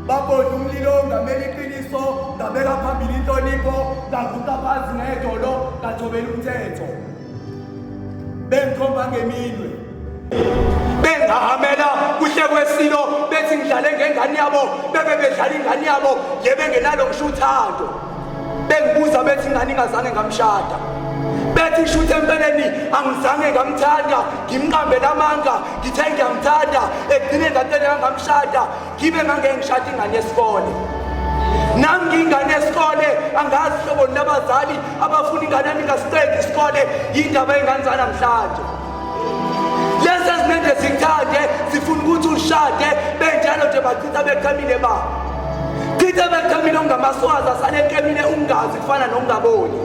babodla umlilo ngamela iqiniso ngabeka phambili inhlonipho ngavuka phansi ngedolo ngajobela umthetho bengikhomba ngeminwe bengahamela kuhle kwesilo bethi ngidlale ngengane yabo bebe bedlala ingane yabo yebengenalo ngisho uthando bengibuza bethi ngani ngazange ngamshada bethi shuthi empeleni angizange ngamthanda ngimqambele amanga ngithe ngiyamthanda egcine ngatele kangamshada ngibe ngangeke ngishada ingane yesikole nami ngiyingane yesikole angazi hlobo labazali abafuna ingane yami ingasiqedi isikole yindaba yengane zanamhlanje Lesi esimende sithande sifuna ukuthi ushade benjalo nje bachitha beqhamile ba chitha beqhamile ungamaswazi asale eqemile ungazi kufana nokungaboni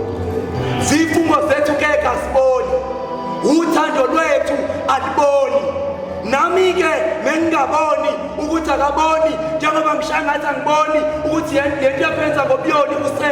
zifungo zethu ke kasiboni uthando lwethu aliboni nami ke mengingaboni ukuthi akaboni njengoba ngishangathi angiboni ukuthi yento yaphenza ngobuyoni use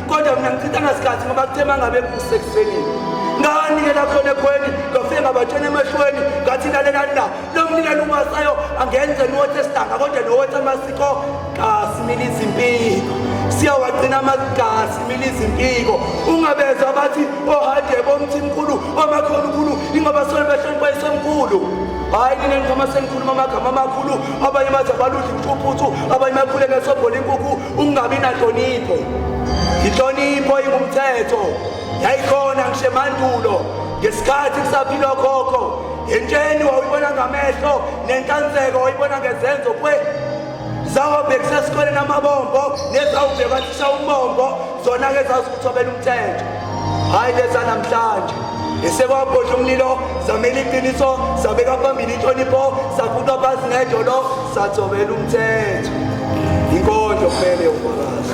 kodwa mina ngichithanga sikhathi ngoba kuthe uma ngabe kusekuseni nganikela khona ekhweni ngafike ngabatshena emehlweni ngathi lalelani la lo mnikelo umasayo angenze nothi esidanga kodwa nowothi amasiko kasimile izimpiko siyawagcina amagasi mile izimpiko ungabezwa abathi ohadebe oh, omthimkhulu omakhona oh, ukhulu ingoba sole behlonipha isemkhulu hayi nina ngikhama sengikhuluma amagama amakhulu abanye bathi abaludla imfuphuthu abanye bakhule ngesobhola inkukhu ukungabi nanhlonipho inhlonipho ingumthetho yayikhona ngishe mandulo ngesikhathi kusaphilwa khokho entsheni wawuyibona ngamehlo nenhlanzeko wayibona ngezenzo kwe zawubhekisa esikoleni amabombo nezawubheka thisha umbombo zona ke zazi ukuthi obela umthetho hhayi leza namhlanje esekwabhodla umlilo zamela iqiniso sabeka phambili inhlonipho sakhutha phansi ngejolo sathobela umthetho inkondlo kumele ufakazi